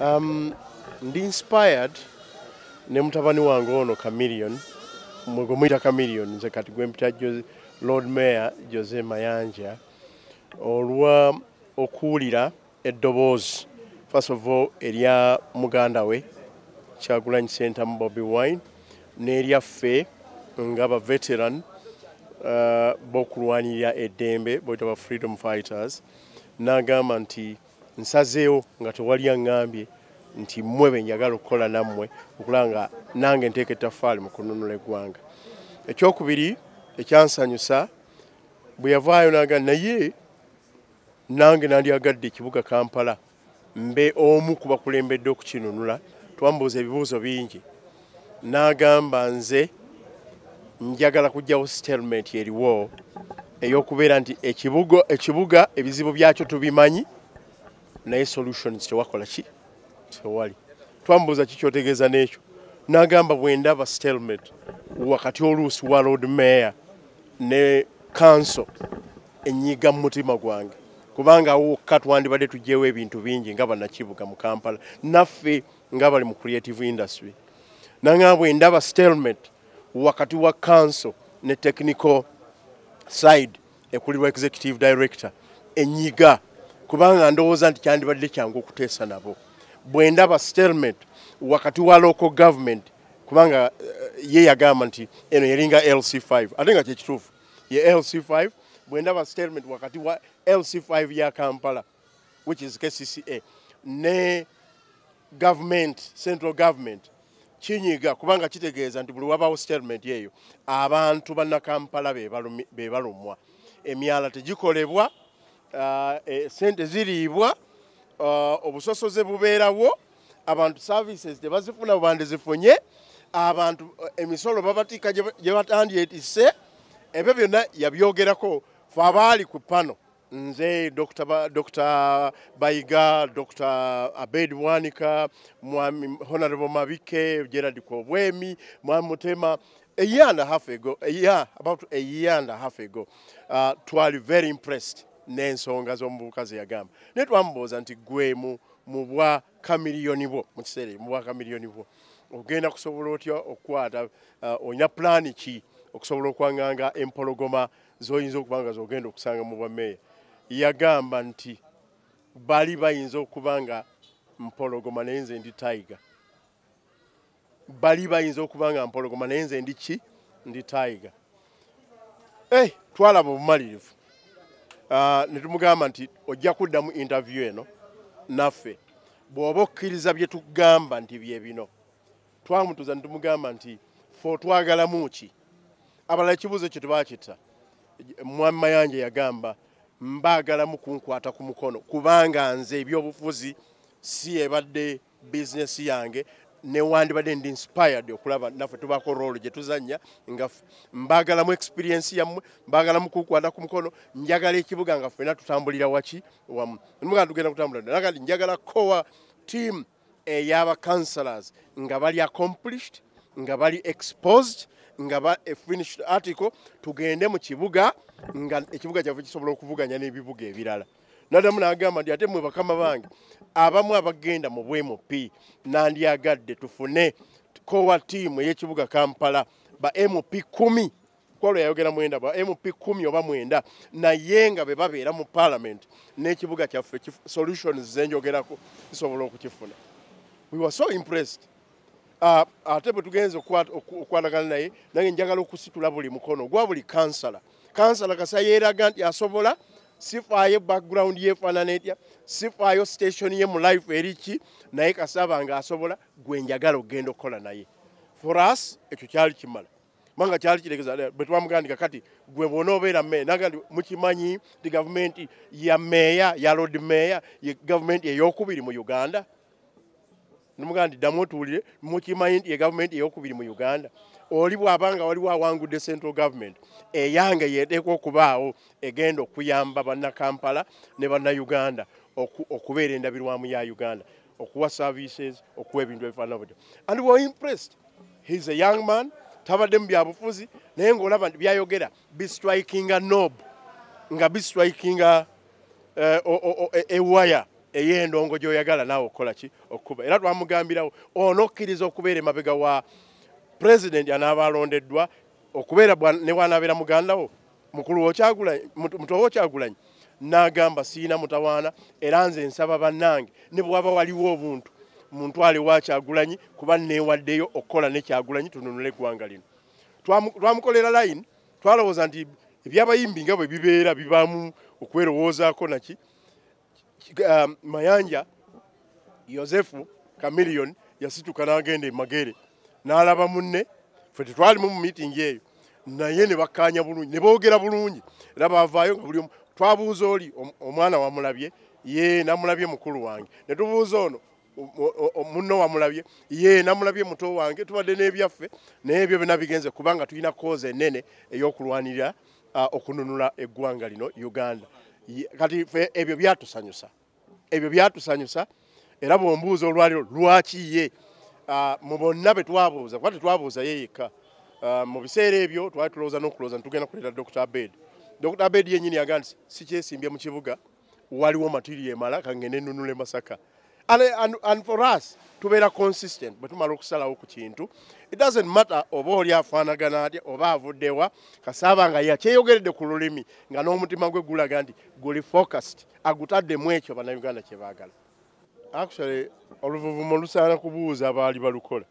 Um, ndi inspired ne mutabani wange ono Chameleon mwe gwe muyita Chameleon nze kati gwe mpita Lord Mayor Jose Mayanja olwa okuwulira eddoboozi first of all erya muganda we Kyagulanyi Ssentamu Bobi Wine n'eryaffe nga ba veteran uh, b'okulwanirira eddembe boyita ba freedom fighters n'agamba nti Nsazeewo nga tewali aŋŋambye nti mmwe be njagala okukola nammwe okulaba nga nange nteeka ettaffaali mu kununula eggwanga. Ekyokubiri ekyansanyusa bwe yavaayo naga naye nange nandyagadde ekibuga Kampala mbe omu ku bakulembedde okukinunula. Twambuuza ebibuuzo bingi. n'agamba nze njagala kujjawo statement eriwo eyokubeera nti ekibugo ekibuga ebizibu byakyo tubimanyi naye solutions tewakola ki tewali twambuuza kikyotegeeza n'ekyo n'agamba bwendaba statement wakati oluusi wa lord mayor ne kanso enyiga mu mutima gwange kubanga awokka twandibadde tugyewo ebintu bingi nga banakibuga mu kampala naffe nga bali mu creative industry nanga bwe ndaba stalemate wakati wa council ne technical side ekulirwa executive director enyiga kubanga ndowooza nti kyandibadde kyangu okuteesa nabo bwe ndaba stalemate wakati wa local government kubanga eh, ye yagamba nti eno yalinga lc5 ate nga kyekituufu ye lc5 bwendaba statement wakati wa lc5 ya kampala which is kcca ne government central government kinyiga kubanga kitegeeza nti buli wabawo statement eyo abantu banakampala bebalumwa emyala tegikolebwa uh, e, sente ziriibwa uh, obusosoze bubeerawo abantu services tebazifuna bandizifunye abantu uh, emisolo babatika gyebatandye etise ebyo byonna yabyogerako fe abaali ku pano nze Dr. Ba, Dr. Bayiga, Dr. Abed Bwanika, Mwami Honorable Mabike, Gerald Kobwemi, Mwami Mutema, a year and a half ago, a year, about a year and a half ago, uh, twali very impressed n'ensonga z'omuvubuka ze yagamba naye twamubuuza nti gwe mu mu bwa kamiliyoni bwo mu kiseera mu bwa kamiliyoni bwo ogenda kusobola otya okukwata uh, olina pulaani ki okusobola okwanganga empologoma z'oyinza okuba nga z'ogenda okusanga mu bwameeya yagamba nti bali bayinza okuba nga mpologoma naye nze ndi taiga bali bayinza okuba nga mpologoma naye nze ndi ki ndi taiga eh, twalaba obumalirivu ah, ne tumugamba nti ojja kuddamu interview eno naffe bw'oba okkiriza bye tugamba nti bye bino Twamutuza nitumugamba nti fe otwagalamu ki? Abalala ekibuuzo ekyo tebakitta. Mwami Mayanja yagamba mbaagalamu kunkwata ku mukono kubanga nze ebyobufuzi si ebadde bizinesi yange newandibadde ndi inspired okulaba naffe tubaako roolo gye tuzannya nga mbaagalamu experiensi yammwe mbaagalamu kukwata ku mukono njagala ekibuga nga ffena tutambulira waki wamu mugaa tugenda kutambulira naga nti njagala kowa tiimu eyaba councillors nga bali accomplished nga bali exposed nga ba a finished article tugende mu kibuga nga ekibuga kyaffe kisobola okuvuganya n'ebibuga ebirala nadamu nagamba nti ate mwe bakama bange abamu abagenda mu bmp nandyagadde tufune kowa tiimu ey'ekibuga kampala ba mp kumi kwalo yayogera mwenda ba mp kumi oba mwenda naye nga bebabeera mu parliament n'ekibuga kyaffe solutions zenjogerako zisobola okukifuna we were so impressed ah, ate bwe tugenze okukwanagana naye nange njagala okusitula buli mukono gwa buli kansala kansala kasa yeeraga nti asobola sifaayo background yefaanana etya sifaayo station ye mu life eriki naye kasaba nga asobola gwe njagala okugenda okukola naye for us ekyo kyali kimala kubanga kyali kitegeza eh, bwe twamugandika kati gwe bwona obeera meeya naga nti mukimanyi nti gavumenti ya meeya ya lord meeya ye gavumenti eyokubiri mu uganda nomugaa nti ddamu otuwulire mukimanyi nti ye gavumenti eyokubiri mu uganda oli bwabanga waliwo awangudde central government eyange yeteekwa okubaawo egenda okuyamba bannakampala ne bannauganda okubeera endabirwamu ya uganda okuwa services okuwa ebintu ebifaanana butyo and were impressed he is a young man tabadde mu byabufuzi naye ngaolaba nti byayogera bistrikinga nob nga bistrikinga eh, e, ewaya ey'endongo gy'oyagala naawe okukola ki okukuba era twamugambirawo ono okkiriza okubeera emabega wa pulezidenti anaaba alondeddwa okubeera ne bwanaabeera mugandawo mukulu wokyagulanyi muto wokyagulanyi nagamba siina mutawaana era nze nsaba bannange ne bwaba waliwo obuntu muntwale wakyagulanyi kuba newaddeyo okukola nekyagulanyi tununule eggwanga lino twamukolera line twalowooza nti ebyabayimbi nga bwe bibeera bibaamu okwerowoozaako naki um, mayanja yosefu kamiliyoni yasituka n'agenda emagere n'alaba munne fe tetwalimu mu miitingi eyo naye ne bakkaanya bulungi ne boogera bulungi era baavaayo nga buli omu twabuuza oli omwana wamulabye ye namulabye mukulu wange ne tubuuza ono munno wamulabye ye namulabye muto wange tubadde n'ebyaffe naye ebyo byona bigenze kubanga tulina koozi enene ey'okulwanirira okununula eggwanga lino uganda kati fe ebyo byatusanyusa ebyo byatusanyusa era bwombuuza olwaliro lwaki ye mu bonna be twabuuza kuba tetwabuuza ye yekka mu biseera ebyo twali tulowooza n'okulowooza nitugenda kuleeta dr abed dr abed yenyini yagaa nti sikyesimbye mu kibuga waliwo material emala kangende nunule masaka and, and, and for us tubeera consistent bwe tumala okusalawo ku kintu it doesn't matter oba oli afaanagana atya oba avuddewa kasaaba nga yakyeyogeredde ku lulimi nga n'omutima gwe gulaga nti guli focused agutaddemu ekyo bannayuganda kye baagala actually oluvuvumo lusaana kubuuza baali balukola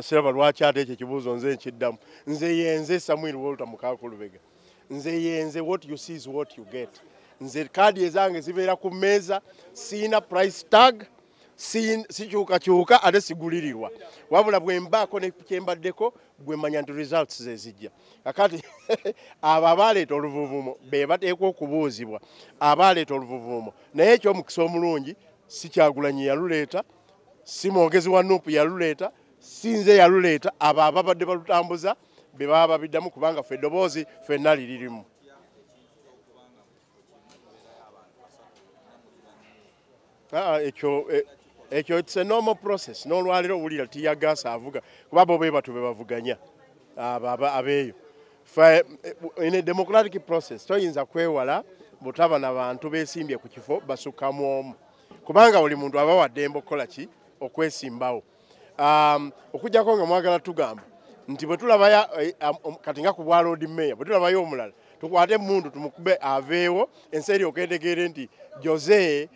siraba lwaki ate ekyo ekibuuzo nze nkiddamu nze yenze samuel walter mukakulubega nze yenze what you see is what you get nze kaadi ezange zibeera ku mmeeza siina price tag sikyukakyuka ate sigulirirwa wabula bwe mbaako nekyembaddeko gwe manya nti results zezijja kakati abo abaaleeta oluvuvuumo be bateekwa okubuuzibwa abaaleeta oluvuvuumo naye ekyomukisa omulungi si kyagulanyi yaluleeta si mwogezi wa nup yaluleeta si nze yaluleeta abo ababadde balutambuza be baba babiddamu kubanga fe eddoboozi fenna liririmu ah, ah, ekyo eh, ekyo it's a normal process n'olwaliro owulira tiyagaasa avuga kuba bo be batyo be bavuganya abeeyo Fe, in a democratic process toyinza kwewala butaba na bantu besimbye ku kifo basukkamu omu kubanga buli muntu aba waddembe okukola ki okwesimbawo um, okujjako nga mwagala tugamba nti bwe tulabaya eh, um, kati nga ku bwa loodi meeya bwe tulabayo omulala tukwate emundu tumukube aveewo ensi eri okendegeere nti jose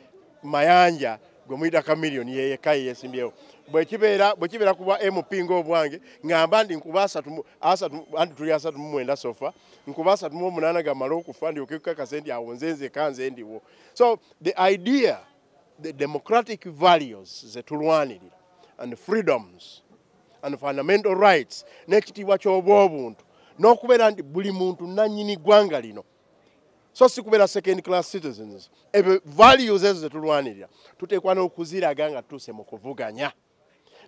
mayanja gwe muyita kamiliyoni yeyekka yeyesimbyewo bwekibeera bwekibeera ku bwa mp ngaobwange ngamba ndi nkuba asatu asatu anti tuli asatu mu mwenda sofa nkuba asatu mu omunaana gamala okufa ndyoke kukakase nti awo nze nzeka nze ndiwo so the idea the democratic values zetulwanirira and freedoms and fundamental rights n'ekitiibwa ky'obwobuntu n'okubeera nti buli muntu nannyini ggwanga lino so si kubeera second class citizens ebyo values ezo zetulwanirira tuteekwa n'okuziraga nga tutuuse mu kuvuganya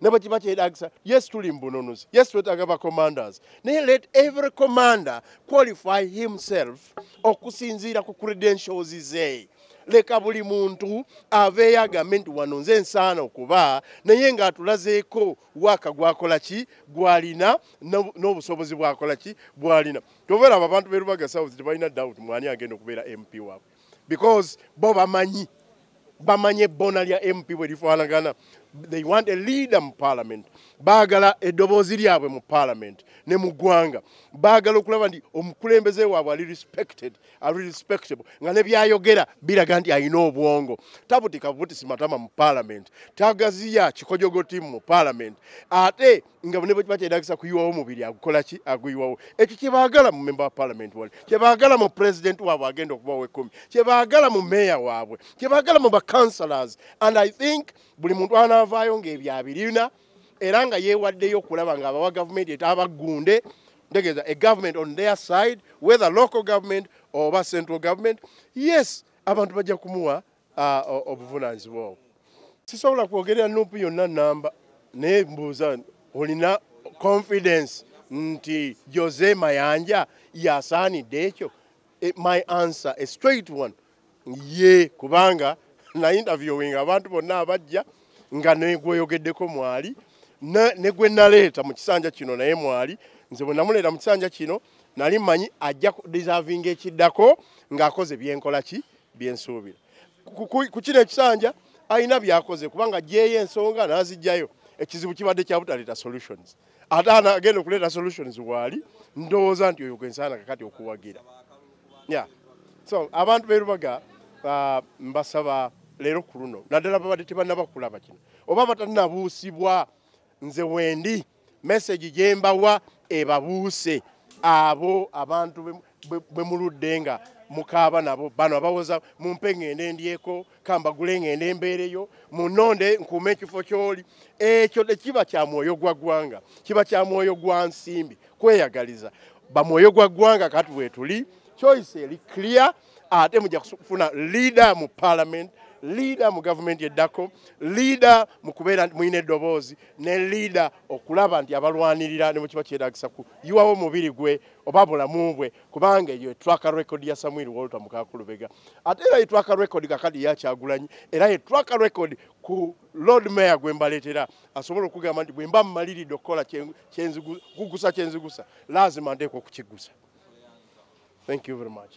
ne bwe kiba kyetagisa yes tuli mbununuzi yes twetaaga ba commanders naye let every commander qualify himself okusinziira ku credentials ze leka buli muntu aveeyo agambe nti wano nze ensaana okuba naye ng'atulazeeko waaka gwakola ki gwalina n'obusobozi bwakola ki bwalina Tovera abo abantu be Lubaga South tebalina doubt mwani agenda okubeera MP waabwe because bo bamanyi bamanyi ebbona lya MP bwe lifaanagana they want a leader mu parliament baagala eddoboozi lyabwe mu parliament ne mu ggwanga baagala okulaba nti omukulembeze waabwe ali respected ali respectable nga ne byayogera biraga nti alina obwongo tabutika butisi matama mu parliament tagaziya kikojogo tiimu mu parliament ate nga ne bwekiba kyetagisa kuyiwawo omubiri agukola ki aguyiwawo ekyo kyebaagala mu memba wa parliament wali kyebaagala mu president waabwe agenda okubawo ekumi kyebaagala mu meeya waabwe kyebaagala mu bacounselors and i think buli muntu anaavaayo ngaebyo abirina era nga yeewaddeyo okulaba nga abawa gavumenti etabagunde ntegeeza a government on their side whether local government oba central government yes abantu bajja kumuwa Ah, obuvunaanyizibwa obwo sisobola kwogerera nuupu yonna namba naye mbuuza olina confidence nti jose mayanja yasaanidde ekyo eh, my answer a straight one ye kubanga na interviewing abantu bonna abajja nga negweyogeddeko mwali negwe naleeta mu kisanja kino naye mwali nze bwe namuleeta mu kisanja kino nali mmanyi ajja deservinga ekiddako ng'akoze byenkola ki byensuubira ku kino ekisanja alina byakoze kubanga gyeyo ensonga nazijjayo ekizibu kibadde kyabutaleeta solutions ate anagenda okuleeta solutions waali ndowooza nti oyo gwensaana kakati okuwagira ya so abantu berubaga uh, mbasaba leero ku luno naddala babadde tebanaba kulaba kino oba batanabuusibwa nze wendi message gyembawa ebabuuse abo abantu bwe muludde nga mukaaba nabo bano abawoza mumpe ngende ndyeko kambagule ngende mbeereyo munonde nkuuma ekifo kyoli ekyo tekiba kya mwoyo gwa ggwanga kiba kya mwoyo gwa nsimbi kweyagaliza bamwoyo gwa ggwanga kati wetuli choice eri clear ate mujja kufuna liida mu palamenti liida mu gavumenti eddako liida mu kubeera mulina eddoboozi ne liida okulaba nti abalwanirira ne mukiba kyetagisa ku yiwawo omubiri gwe oba bulamu bwe kubanga eyo etwaka record ya samuel walter mukakulubega ate era etwaka record kakadi yakyagulanyi era etwaka record ku lord mayor gwe mbaleetera asobola okugamba nti bwe mba mmaliridde okukola kuggusa kyenzigusa laazima nteekwa okukiggusa thank you very much